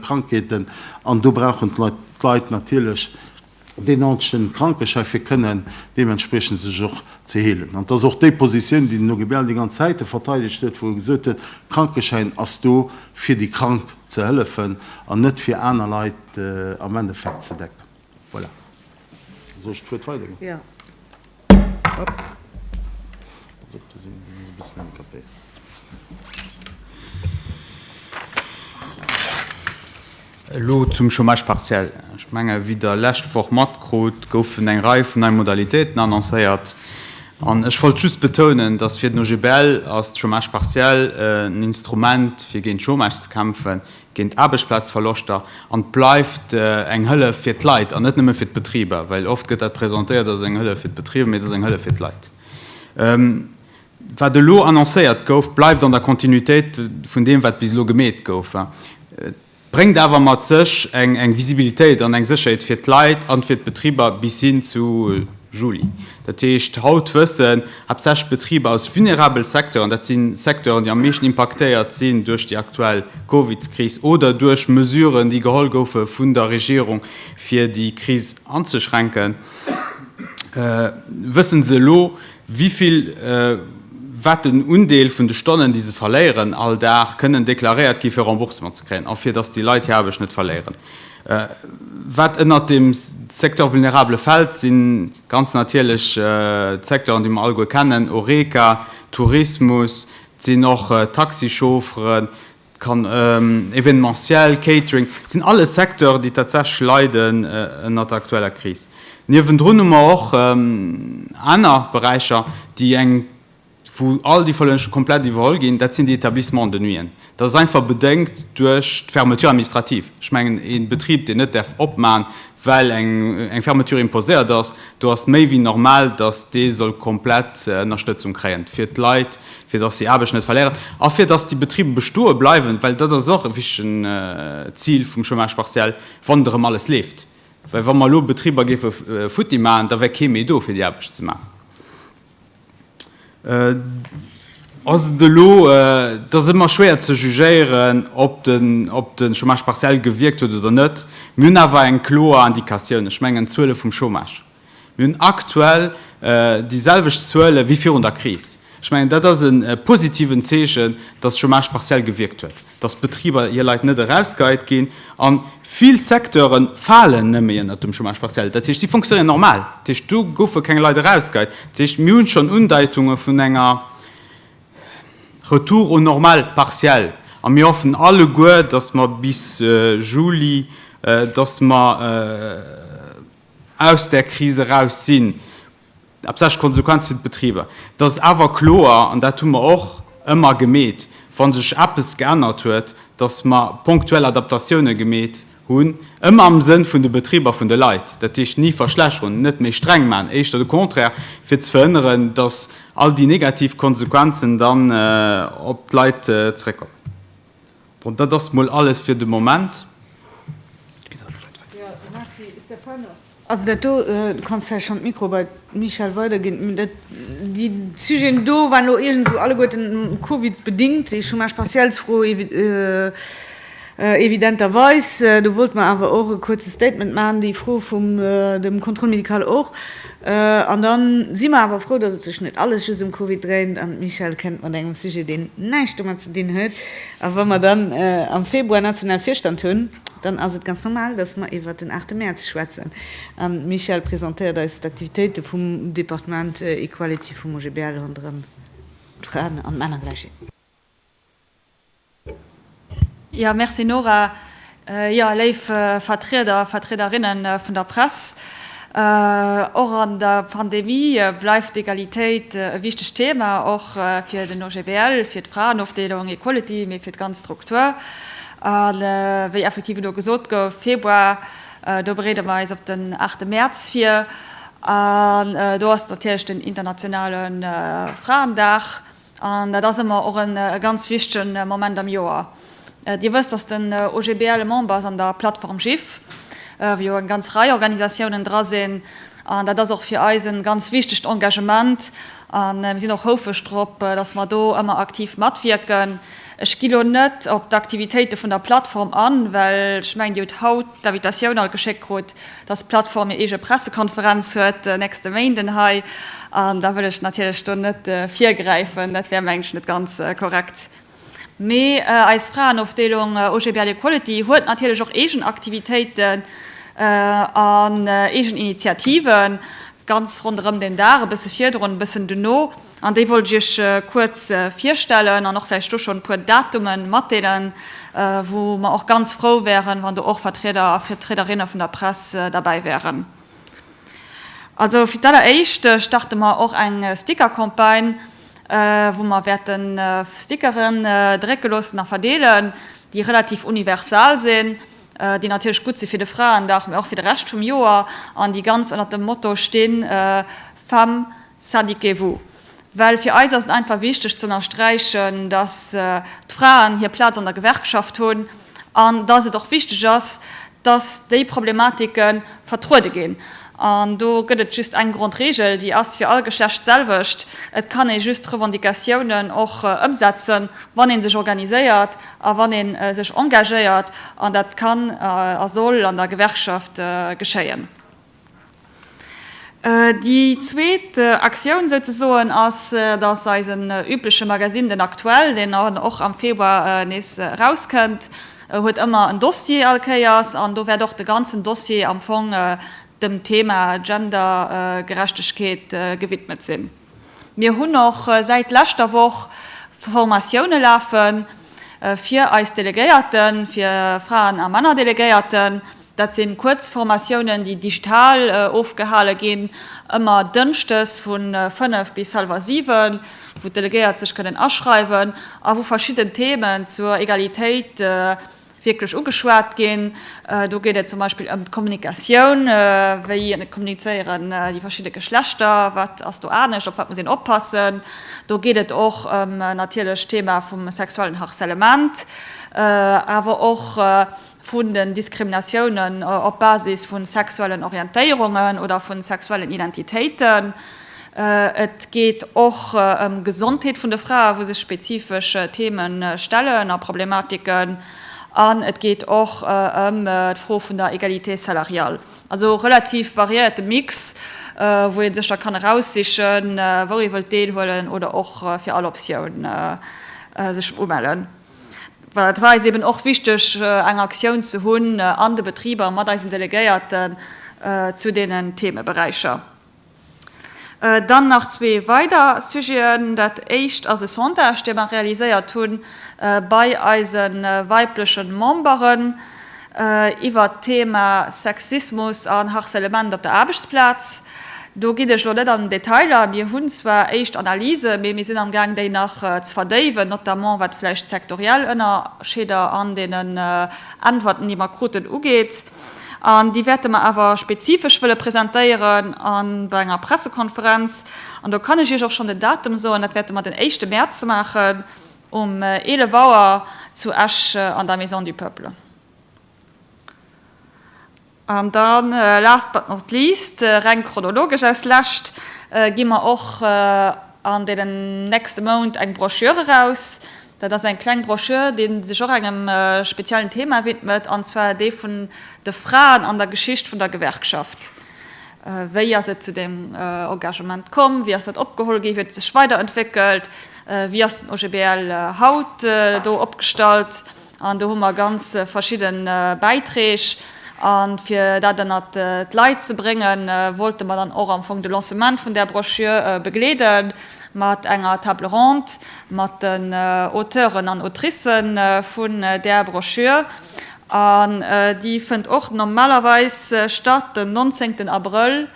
Krankheeten, an do brauchen d'Leit natierlech, deen nordegen Krankeschäi fir kënnen deementspriechend sech och ze heelen. An et ass och déi Positioun, déi den OGBL déi ganz Zäite verteidegt huet, wou e gesot huet, Krankeschäin ass do fir déi Krank ze hëllefen an net fir aner Leit am Endeffekt ze decken. Voilà, da soe ech d'Wuert weider. Elo zum Chômage partiel. Ech menge wéi Der lescht Woch matkrut, goufen eng Rei vun nei Modalitéiten annoncéiert. An ech wollt just betounen, datt fir den OGBL ass de Chômage partiel en Instrument fir géint Chômage ze kämpfen, géint d'Aarbechtsplazverloschter an et bleift eng Hëllef fir d'Leit an net nëmme fir d'Betriber, well oft gëtt dat presentéiert als eng Hëllef fir d'Betriber, mee et ass eng Hëllef fir d'Leit. Wat elo annoncéiert gouf, bleift an der Kontinuitéit vun deem, wat bis elo gemeet gouf. Et bréngt awer mat sech eng Visibilitéit an eng Sécherheet fir d'Leit an fir d'Betriber bis hin zu Juli Dat heescht, haut wëssen haaptsächlech d'Betriber aus vulnerabele Secteuren, dat si Secteuren, déi am meeschten impaktéiert sinn duerch déi aktuell Covidskris oder duerch Mesuren, déi geholl goufe vun der Regierung, fir déi Kris anzeschränken, wëssen se elo, wéi vill, wat den Undeel vun de Stonnen, déi se verléieren all Dag, kënnen deklaréiert gi fir Remboursement ze kréien a fir datt déi Leit hir Aarbecht net verléieren. Wat ënnert dem Secteur vulnérable fält, si ganz natierlech d'Secteuren, déi mer alleguer kennen, Horeca, Tourismus, et sinn och d'Taxichaufferen, Événementiel, Catering, et sinn alles Secteuren, déi tatsächlech leiden ënnert der aktueller Kris. Niewendrun hu mer och aner Beräicher, déi eng wou all déi Fëllen scho komplett iwwerholl ginn, dat sinn déi Établissements de nuiten. Dat ass einfach bedéngt duerch d'Fermeture administrative. Ech mengen, e Betrib, deen net däerf opman, well eng Fermeture imposéiert ass, do ass et méi wéi normal, datt dee soll komplett Ënnerstëtzung kréien, fir d'Leit, fir datt si Aarbecht net verléieren a fir datt déi Betribe bestoe bleiwen, well dat ass och e wichtigen Zil vum Chômage partiel, wann erëm alles leeft. Well wa mer elo Betriber géife futti maachen, da wär kee méi do, fir déi Aarbecht ze maachen. Ass et elo, et ass ëmmer schwéier ze jugéieren, ob de Chômage partiel gewierkt huet oder net. Mir hunn awer eng kloer Indikatioun, ech mengen d'Zuele vum Chômage. Mir hunn aktuell déi selwecht Zuele wéi virun der Kris. Ech mengen, dat ass e positiven Zeechen, datt Chômage partiel gewierkt huet. dass d'Betriber hir Leit net erausgeheit ginn, a vill Secteure falen nëmme ënnert dem Chômage partiel, dat heescht, si fonctionnéieren normal, dat heescht, do goufe keng Leit erausgeheit. Dat heescht, mir hu schonn Undeitunge vun enger Retour aux normales partielles, a mir hoffen alleguer, dass mer bis Juli, dass mer aus där Kris eraus sinn. Absëscht Konsequenz fir d'Betriber. Et ass awer kloer, an dat hu mer och ëmmer gemeet, wa sech eppes geännert huet, datt mer ponktuell Adaptatioune gemeet hunn, ëmmer am Sënn vun de Betriber, vun de Leit. Dat heescht, ni verschlechteren, net méi streng maachen, éischter de Contraire, fir ze verhënneren, datt all déi negativ Konsequenzen dann op d'Leit zeréckkommen. Bon, dat ass mol alles fir de Moment. Also dat do, du kanns vläicht schonn d'Mikro bei d'Michèle weiderginn. Déi Sujeten do waren elo iergendsou alleguerten covidbedingt, déi Chômage partiels-Fro evidenterweis. Do wollt mer awer och e kuerze Statement maachen, déi Fro vum dem Contrôle médical och. An dann si mer awer frou, dass et sech net alles just ëm Covid dréint an d'Michèle kënnt mat engem Sujet, deen näischt domat ze dinn huet. A wa mer dann am Februar nationale Virstand hunn, dann ass et ganz normal, dass mer iwwert den 8 Mäerz schwätzen an d'Michèle presentéiert eis d'Aktivitéite vum Departement Equality vum OGBL ronderëm d'Fraen an d'Männergläichheet. Ja, merci Nora. Jo, léif Vertrieder, Vertriederinnen vun der Press, och an der Pandemie bleift d'Egalitéit e wichtegt Thema, och fir den OGBL, fir d'Fraenofdeelung Equality, mee fir d'ganz Struktur. A wéi effektiv elo gesot gouf, Februar, do bereede mer eis op den 8 Mäerz vir. An do ass natierlech den internationale Fraendag. An dat ass ëmmer och e ganz wichtegen Moment am Joer. Dir wësst, dass den OGBL e Member ass an der Plattform GIFF, wou jo eng ganz Rei Organisatiounen dra sinn. An dat ass och fir eis e ganz wichtegt Engagement a mir sinn och houfreg drop, dass mer do ëmmer aktiv matwierken. Ech gi lo net op d'Aktivitéite vun der Plattform an, well ech mengen, Dir hutt haut d'Invitatioun all geschéckt krut. dass d'Plattform hir eege Pressekonferenz huet de nächste Méinden hei, an da wëll ech natierlech do net virgräifen, dat wär mengen ech net ganz korrekt. Mee eis Fraenofdeelung OGBL Equality huet natierlech och eegen Aktivitéiten an eegen Initiativen, ganz ronderëm den Dag, e bësse virdrun, e bëssen dono. An déi wollt ech Iech kuerz virstellen an och vläicht do schonn e puer Datume matdeelen, wou mer och ganz frou wäeren, wann do och Vertrieder a Vertriederinne vun der Press derbäi wäeren. Also fir d'alleréischt starte mer och eng Sticker-Campagne, wou mer wäerte Stickeren drécke loossen a verdeelen, déi relativ universal sinn, déi natierlech gutt si fir de Fraendag, mä och fir de Rescht vum Joer an déi ganz ënner dem Motto stinn, Femmes, Sadiquez-vous! Well fir eis ass et einfach wichteg ze ënnersträichen, dass d'Fraen hir Plaz an der Gewerkschaft hunn an dass et och wichteg ass, dass déi Problematike vertruede ginn. An do gëtt et just eng Grondregel, déi ass fir all Geschlecht d'selwecht, Et kann ee just Revendicatiounen och ëmsetzen, wann ee sech organiséiert a wann ee sech engagéiert. An dat kann a soll an der Gewerkschaft geschéien. Déi zweet Aktioun souzesoen ass, datt eisen übleche Magasinn, den Aktuell, deen och am Februar nees erauskënnt, huet ëmmer en Dossier all Kéiers. An do wäert och de ganzen Dossier am Fong dem Thema Gendergerechtegkeet gewidmet sinn. Mir hunn och säit leschter Woch Formatioune lafe fir eis Delegéierten, fir Fraen a Männer Delegéierten. Dat si kuerz Formatiounen, déi digital ofgehale ginn, ëmmer dënschdes vu 5 bis hallwer 7, wou d'Delegéiert sech kënnen aschreiwen a wou verschidden Themen zur Egalitéit Wierklech ugeschwat ginn. Do geet et zum Beispill ëm d'Kommunikatioun, wéi kommunizéieren déi verschidde Geschlechter, wat ass do anescht, op wat muss een oppassen. Do geet et och ëm natierlech d'Thema vum sexuellen Harcèlement, awer och vun den Diskriminatiounen op Basis vu sexuellen Orientéierungen oder vu sexuellen Identitéiten. Et geet och ëm d'Gesondheet vun de Frae wou sech spezifesch Theeme stellen a Problematiken. An et geet och ëm d'Fro vun der Égalité salariale. Also e relativ variéierte Mix, wou ee sech da kann eraussichen, wou ee wëllt deelhuelen oder och fir all Optioun sech umellen. Well et war eis eben och wichteg, eng Aktioun ze hunn an de Betriber mat eisen Delegéierten zu deenen Theemeberäicher. Dann nach zwee weider Sujeten. Dat éischt ass e Sondage, dee mer realiséiert hu bei eise weibleche Memberen iwwert d'Thema Sexismus an Harcèlement op der Aarbechtsplaz. Do ginn ech elo net an den Detail a. Mir hunn zwar éischt Analysen, mee mir sinn amgaang, déi nach ze verdéiwen, notamment wat vläicht d'sektoriell Ënnerscheeder an deenen Äntwerten, déi mer kruten, ugeet. An déi wäerte mer awer spezifesch wëlle presentéieren a bei enger Pressekonferenz. An do kann ech Iech och schonn den Datum soen, dat wäerte mer den éischte Mäerz maachen um 11 Auer zu Esch an der Maison du Peuple. An da last but not least, reng chronologesch als Lescht, gi mer och an deenen nächste Mount eng Broschür eraus, Dat ass eng kleng Broschür, déi sech och engem speziellen Thema widmet, an zwar dee vun de Fraen an der Geschicht vun der Gewerkschaft. Wéi ass et zu deem Engagement komm? Wéi ass dat opgeholl ginn? Wéi huet et sech weiderentwéckelt? Wéi ass den OGBL haut do opgestallt? An do hu mer ganz verschidde Bäiträg. A fir dat ënnert d'Leit ze bréngen, wollte mer dann och am Fong de Lancement vun där Broschür begleede mat enger Table ronde. mat den Auteuren an Autrice vun där Broschür, an déi fënnt och normalerweis statt den nonzéngten Abrëll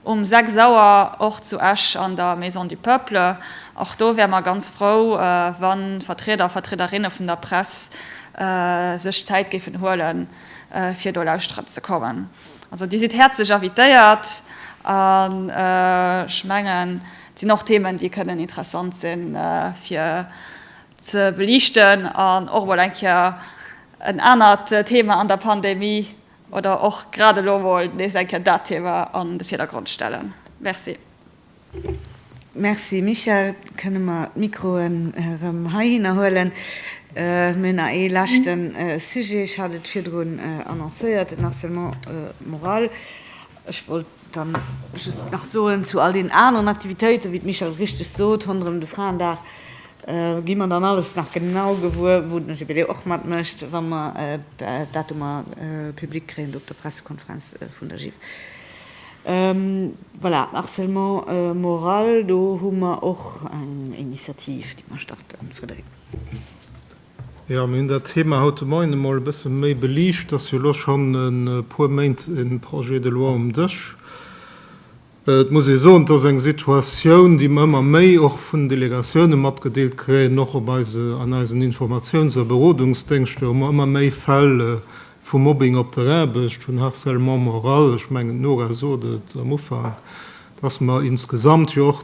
um sechs Auer, och zu Esch an der Maison du Peuple. Och do wäre mer ganz frou, wa Vertrieder a Vertriederinne vun der Press sech d'Zäit géifen huele fir do lauschteren ze kommen. Also Dir sidd häerzlech invitéiert, an ech mengen, Et sinn och Themen, déi kënnen interessant sinn, fir ze beliichten an och emol eng Kéier en anert Thema an der Pandemie oder och grad elo emol nees eng Kéier dat Thema an de Virdergrond stellen. Merci. Merci, Michèle. Kënne mer d'Mikroen erëm heihinner huelen? Mir hunn nach ee leschte Sujet. Ech hat et virdrun annoncéiert, den Harcèlement moral. Ech wollt. Dann just nach soen zu all den aneren Aktivitéiten, wéi d'Michèle richteg sot, ronderëm de Fraendag gi mer dann alles nach genau gewuer, wou den Jubiläu och matmécht, wa mer d'Datumer public kréien do op der Pressekonferenz vun der GIF. Voilà, harcèlement moral, do hu mer och eng Initiativ, déi mer starten, Frédérique. Jo, mir hunn dat Thema haut de Moien emol e bësse méi beliicht. Et ass jo elo schonn e puer Méint e Projet de loi um Dësch. Et muss ee soen, et ass eng Situatioun, déi mer ëmmer méi och vun den Delegatioune matgedeelt kréien, och op eise, an eisen Informatiouns a Berodungsdéngschter hu mer ëmmer méi Fäll vu Mobbing op der Aarbecht, vun Harcèlement moral. Ech mengen, d'Nora sot et am Ufank, dass mer insgesamt jo och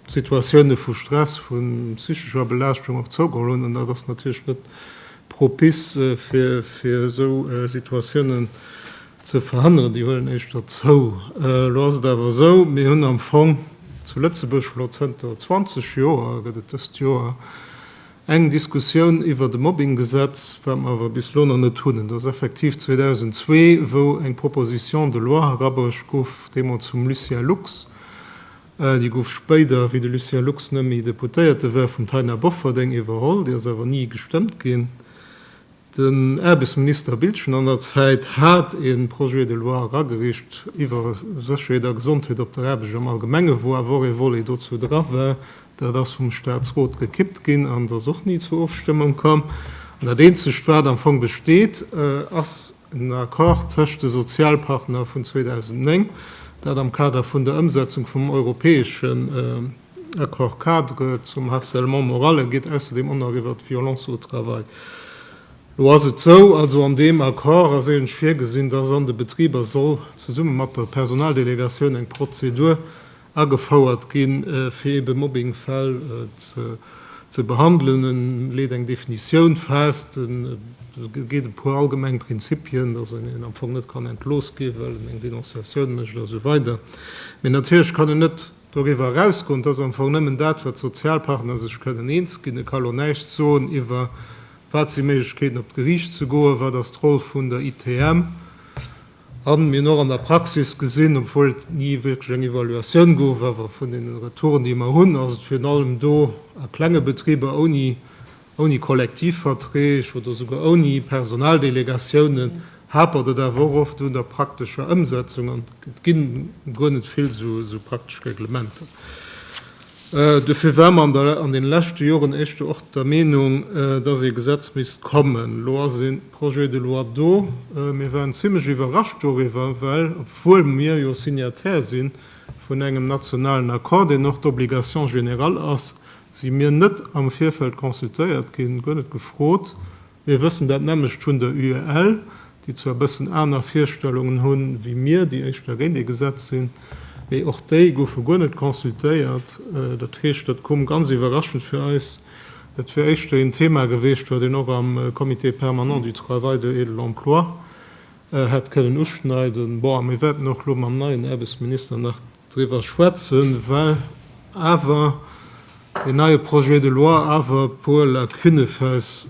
Situatioune vu Stress, vu psychescher Belaaschtung och zougeholl hunn, an dat ass natierlech net propice fir esou Situatiounen ze verhënneren, déi huelen éischter zou. Elo ass et awer esou, mir hunn am Fong zu Lëtzebuerg elo zënter 20 Joer, gëtt et dëst Joer, eng Diskussioun iwwert e Mobbinggesetz, wat mer awer bis elo nach net hunn. Et ass effektiv 2002, wou eng Proposition de loi erabruecht gouf, deemools vum Lucien Lux, Déi gouf spéider, wéi de Lucien Lux net méi Deputéierte war, vum Taina Bofferding iwwerholl. Déi ass awer ni gestëmmt ginn. Den Aarbechtsminister Biltgen an der Zäit hat e Projet de loi eragereecht iwwer Sécherheet a Gesondheet op der Aarbecht am Allgemenge, wou awer och e Volet dozou dra war. Dat ass vum Staatsrot gekippt ginn an et ass och ni zur Ofstëmmung komm. An dat Eenzegt, wat am Fong besteet, ass, En Accord tëscht de Sozialpartner vun 2009, dat am Kader vun der Ëmsetzung vum europäeschen Accord-cadre zum Harcèlement moral ergeet ausserdeem Onnall iwwert d'Violence au travail. Lo ass et esou, also an deem Accord ass eigentlech virgesinn, dass an de Betriber soll zesumme mat der Personaldelegatioun eng Prozedur agefouert ginn, fir ebe Mobbingfäll ze behandelen. E leet eng Definitioun fest, e geet e puer allgemeng Prinzipien, dass een een am Fong net kann entlooss ginn, well en eng Denonciatioun mécht a sou weider. Mee natierlech kann en net doriwwer erausgoen. Et ass am Fong nëmmen dat, wat d'Sozialpartner sech kënnen eens ginn. E ka lo näischt soen iwwer, wat si Méiglechkeeten, op d'Geriicht ze goen, wat ass d'Roll vun der ITM. An mir hunn och an der Praxis gesinn, obwuel et ni wierklech eng Evaluatioun gouf, awer vun deene Retouren, déi mer hunn, ass et virun allem do a klenge Betriber ouni Kollektivverträg oder souguer ouni Personaldelegatiounen, hapert et awer och oft un der praktescher Ëmsetzung an et gi guer net vill esou praktesch Reglementer. Dofir war mer an deene leschte Joren éischter och der Meenung, dass ee Gesetz misst kommen. Elo ass een. Projet de loi do. Mir waren zimlech iwwerrascht doriwwer, well obwuel mir jo Signataire si vun engem nationalen Accord, deen och d'Obligation générale ass, si mir net am Virfeld consultéiert ginn, guer net gefrot. Mir wëssen dat nämmlecht vun der UEL, déi zwar e bëssen aner Virstellungen hu wéi mir, déi éischter géint ee Gesetz sinn, mee och déi goufe guer net consultéiert. Dat heescht, dat koom ganz iwwerraschend fir eis. Dat wier éischter een Thema geweecht, wat een och am Comité permanent du travail de et de l'emploi hätt kënnen uschneiden. Bon, a mir wäerten och elo mam neien Aarbechtsminister nach driwwer schwätzen, well awer deen neie Projet de loi awer e puer Lacunne fäis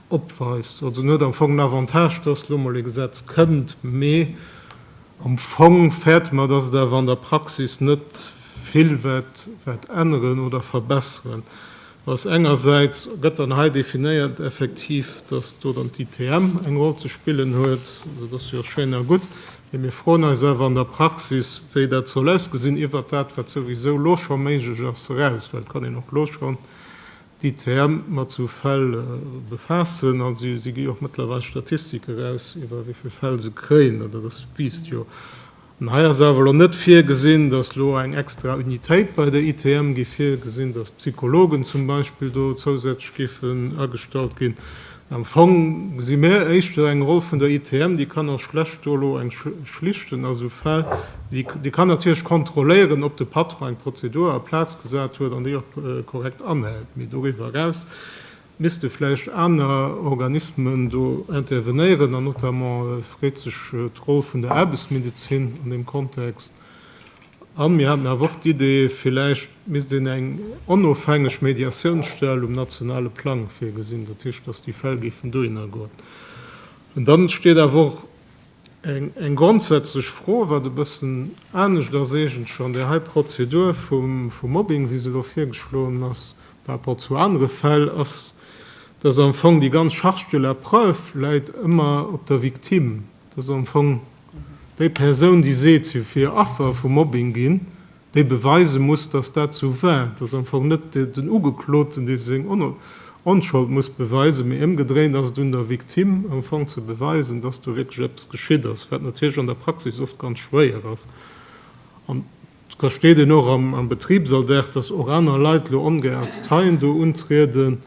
opweist. Also en huet am Fong den Avantage, dass elo emol ee Gesetz kënnt, mee am Fong fäerte mer, dass et awer an der Praxis net vill wäert änneren oder verbesseren. Ass engersäits gëtt dann hei definéiert effektiv, dass do dann d'ITM eng Roll ze spillen huet. Dat ass jo schéin a gutt, mee mir froen eis awer an der Praxis, wéi dat soll ausgesinn iwwert dat, wat souwisou elo scho méiglech ass, eraus. Well et kann een och elo schonn d'ITM mat esou Fäll befaassen a si gi jo och mëttlerweil Statistik eraus, iwwer wéi vill Fäll se kréien. Dat ass, wiisst jo An hei ass awer elo net virgesinn, dass elo eng extra Unitéit bei der ITM géif virgesinn, dass Psychologen zum Beispill do zousätzlech géifen agestallt ginn. Am Fong gesi mär éischter eng Roll vun der ITM, déi kann och schlecht do elo eng schlichten a sou Fäll. Déi déi kann natierlech kontrolléieren, ob de Patron eng Prozedur a Plaz gesat huet an déi och korrekt anhält, mee doriwwer eraus Misste vläicht aner Organismen do intervenéieren an notamment freet sech d'Roll vun der Aarbechtsmedezin an deem Kontext. A mir haten awer och d'Idee, vläicht misst een eng onofhängeg Mediatiounsstell um nationale Plang virgesinn, dat heescht, dass déi Fäll géifen dohinner goen. An da steet awer och Eng grondsätzlech Fro, wat e bëssen anescht ass eigentlech an där hei Prozedur vum Mobbing, wéi se elo virgeschloen ass par rapport zu anere Fäll, ass, dass am Fong déi ganz Charge de la preuve läit ëmmer op der Victime. Et ass am Fong déi Persoun, déi seet, si wier Affer vu Mobbing ginn, déi beweise muss, dass dat esou war, dass am Fong net den Ugekloten, dee seng Onschold muss beweisen, mee ëmgedréint ass et un der Victime am Fong ze beweisen, dass do wierklech eppes geschitt ass, wat natierlech an der Praxis oft ganz schwéier ass. An et versteet een och am Betribsalldag, dass och aner Leit elo ongär als Zeien do untrieden.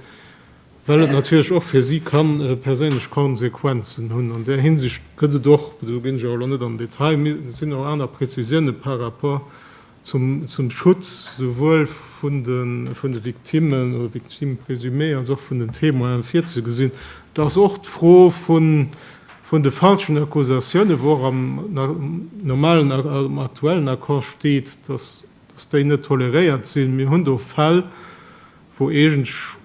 Well et natierlech och fir si ka perséinlech Konsequenzen hunn. An där Hinsicht gëtt et och, do ginn ech awer elo net an den Detail, mee et sinn och aner Prezisioune par rapport zum Schutz souwuel vun de Victimmen oder Victimes présumées als och vun den Témoinen virzegesinn. Et ass och d'Fro vun de falschen Accusatiounen, wou och am normalen, am aktuellen Accord steet, dass déi net toleréiert sinn. Mir hunn do Fäll, wou eegentlech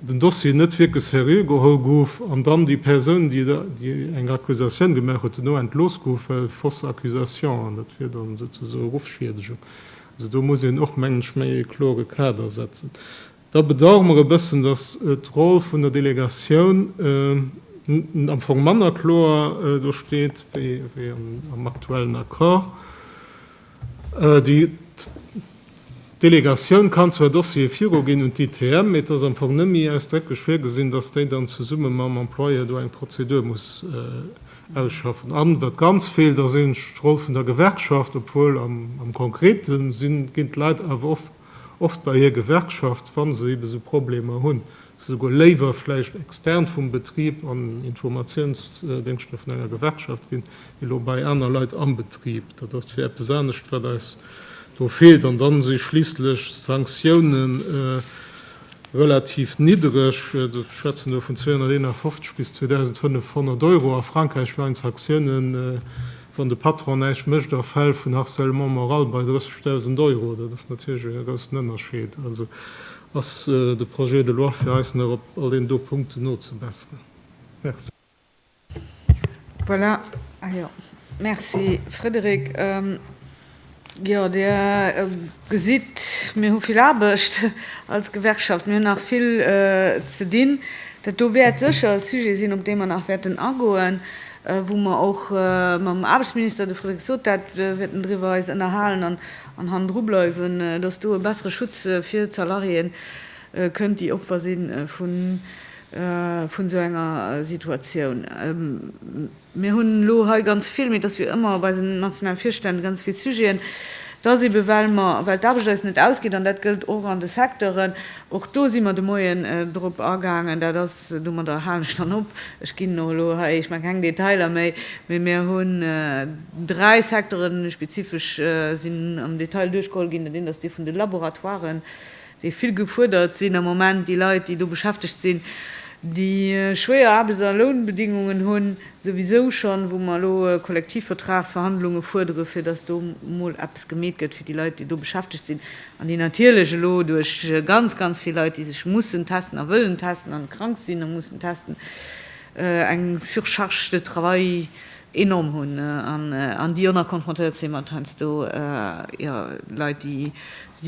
den Dossier net wierklech seriö geholl gouf an dann déi Persoun, déi eng Accusatioun gemaach huet, duerno entlooss gouf, well fausse accusation, an dat wier da souzesoen Ruffschiedegung. Also do muss een och, mengen ech, méi e klore Kader setzen. Da bedauere mer e bëssen, dass d'Roll vun der Delegatioun am Fong manner kloer do steet wéi am aktuellen Accord. Déi Delegatioun kann zwar Dossiere viruginn un d'ITM, mee et ass am Fong net méi ausdrécklech virgesinn, datt déi dann zesumme mam Employeur do eng Prozedur muss ausschaffen. An wat ganz feelt, ass eenzeg d'Roll vun der Gewerkschaft, obwuel am Konkrete ginn d'Leit awer oft bei hir Gewerkschaft, wa se eebe sou Problemer hunn. souguer léiwer vläicht extern vum Betrib an Informatiounsdéngschter vun enger Gewerkschaft ginn, wéi elo bei aner Leit am Betrib. Dat ass fir eppes anescht, wat eis do feelt. An dann si schliisslech d'Sanktioune relativ niddereg. Ech schwätzen do vun 251 bis 2.500 Euro. A Frankräich waren d'Saktioune, wann de Patron näischt mécht, a Fäll vun Harcèlement moral bei 30.000 Euro. Dat ass natierlech e groussen Ënnerscheed. Ass de Projet de loi fir eis nach op all deenen do Punkten nozebesseren? Merci. Voilà. Ah jo. Merci, Frédéric. Jo, Dir gesitt, mir hu vill Aarbecht als Gewerkschaft. Mir hunn nach vill ze dinn. Dat do wäert sécher e Sujet sinn, op dee mer nach wäerten agoen, wou mer och mam Aarbechtsminister, de Frédéric sot dat, wierten driwwer eis ënnerhalen. An hannendru bleiwen, dass do e bessere Schutz fir d'Salariéë kënnt, déi Opfer si vun esou enger Situatioun. Mir hunn elo hei ganz vill, mee dass wier ëmmer bei eisen nationale Virstänn, ganz vill Sujeten, dass ebe well mer, well d'Aarbecht eis net ausgeet, an dat gëllt och an de Secteuren, och do si mer de Moien drop agaangen, dat ass, domadder halen ech dann op, ech ginn och elo hei, ech maache keng Detailer méi, mee mir hunn, Dräi Secteuren hu spezifesch sinn am Detail duerchgeholl ginn. Dat eent ass dee vun de Laboratoiren, déi vill gefuerdert sinn am Moment. Déi Leit, déi do beschäftegt sinn, déi schwéier Aarbechts a Lounbedingungen hunn, souwisou schonn, wou mer elo Kollektivvertragsverhandlunge fuerdere fir datt do emol eppes gemeet gëtt fir déi Leit, déi do beschäftegt sinn an déi natierlech elo duerch ganz, ganz vill Leit, déi sech mussen testen a wëllen testen an krank sinn a mussen testen, eng Surcharge de travail enorm hunn an déi jo nach konfrontéiert si mat heiansdo jo Leit, déi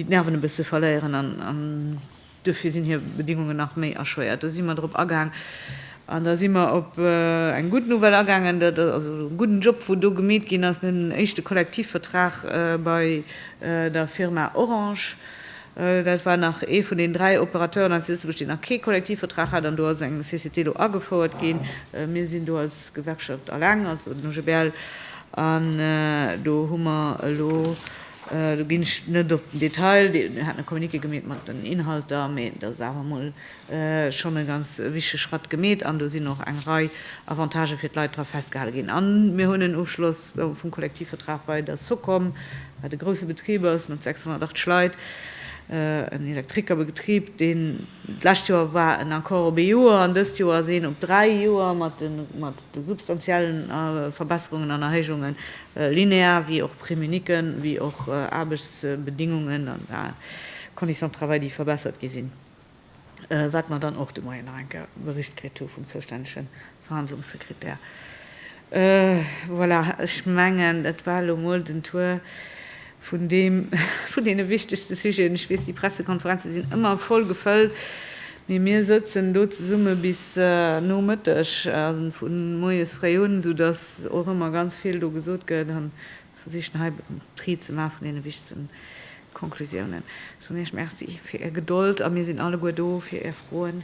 d'Nerven e bësse verléieren an duerfir sinn hir Bedingungen nach méi erschwéiert. Do si mer drop agaang an da si mer op eng gutt Nouvelle agaangen, dat ass also e gudden Job, wou do gemeet ginn ass. Mir hunn en éischte Kollektivvertrag bei der Firma Orange Dat war nach ee vun den dräi Opérateuren hei zu Lëtzebuerg, deen nach kee Kollektivvertrag hat, an do ass eng CCT elo agefouert ginn. Mir sinn do als Gewerkschaft alleng, also den OGBL, an do hu mer elo, do ginn ech net op den Detail, Dir hat e Communiqué gemeet mat den Inhalter, mee dat ass awer emol, schonn e ganz wichtege Schratt gemeet an do sinn och eng Rei Avantagë fir d'Leit dra festgehale ginn. A mir hunn en Ofschloss vum Kollektivvertrag bei der Socom, wat e grousse Betrib ass mat 680 Leit, en Elektrikerbetrib, deen d'lescht Joer war en Accord op ee Joer an dëst Joer ass een op dräi Joer mat de substantielle Verbesserungen an Erhéijungen, linear wéi och Prime unique wéi och Aarbechtsbedingungen a Conditions de travail, déi verbessert gi sinn. wat mer dann och de Moien nach eng Kéier bericht kritt hu vum zoustännege Verhandlungssekretär. Voilà, ech mengen, dat war elo emol den Tour vun deene wichtegste Sujeten. Ech weess, déi Pressekonferenze sinn ëmmer voll gefëllt, mee mir sëtzen do zesumme bis no Mëtteg, vu moies fréi un, soudass och ëmmer ganz vill do gesot gëtt an versichen hei d'Ried ze maachen vun deene wichtegsten Konklusiounen. Ech soen Iech Merci fir Är Gedold a mir sinn alleguer do fir Är Froen.